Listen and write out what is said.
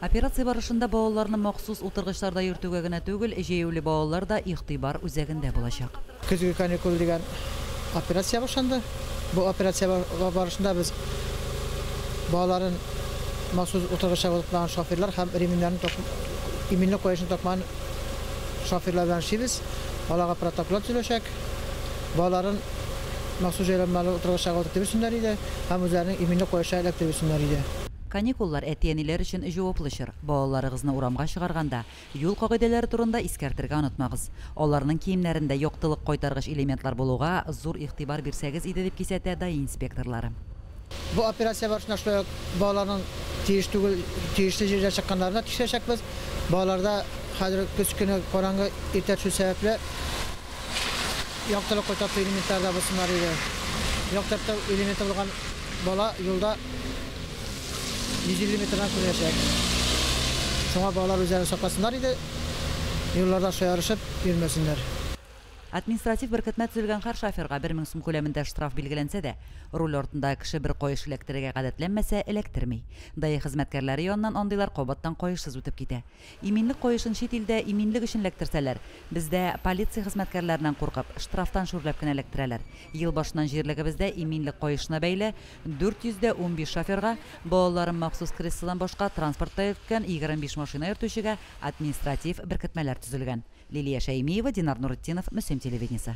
Операция барышында балаларны махсус утыргычларда йөртүгә генә түгел, җәяүле балалар да игътибар үзәгендә булачак. Көзге каникул дигән операция башланды. Бу операция барышында без балаларын махсус утыргычта тотмаган шоферлар һәм ремньнарын такмый, иминлек каешын такмаган шоферлар белән эшлибез. Аларга протоколлар төзеләчәк. Балаларын махсус җайланмалы утыргычтагы дип йөрсеннәр иде һәм үзләренең иминлек каешына эләктереп йөрсеннәр иде. Каникуллар әти-әниләр өчен җаваплы чор. Балаларыгызны урамга чыгарганда, юл кагыйдәләре турында искәртергә онытмагыз. Аларның киемнәрендә яктылык кайтаргыч элементлар булуга зур игътибар бирсәгез иде, дип кисәтә ДАИ инспекторлары. Бу операция барышында шулай ук балаларның тиеш түгел, тиешле җирдә чыкканнарын да тикшерәчәкбез. Балаларда хәзер көз көне караңгы иртә төшү сәбәпле, Яктылык кайтарту элементлары да булсыннар иде. Яктырту элементы булган бала юлда 150 метрдан күренәчәк. Шуңа балалар үзләрен сакласыннар иде, юлларда шаярышып йөрмәсеннәр. Административ беркетмә төзелгән һәр шоферга бер мең сум күләмендә штраф билгеләнсә дә, руль артындагы кеше бер каеш эләктерергә гадәтләнмәсә, эләктерми. Даи хезмәткәрләре яныннан андыйлар кабаттан каешсыз үтеп китә. Иминлек каешын чит илдә иминлек өчен эләктерсәләр, бездә полиция хезмәткәрләреннән куркып, штрафтан шүрләп кенә эләктерәләр. Ел башыннан җирлегебездә иминлек каешына бәйле 400 дә унбиш шоферга, балаларын махсус креслодан башка транспортта йөрткән 25 машина йөртүчегә административ беркетмәләр төзелгән. Лилия Шәймиева, Динар Нуретдинов, Мөслим телевидениесе.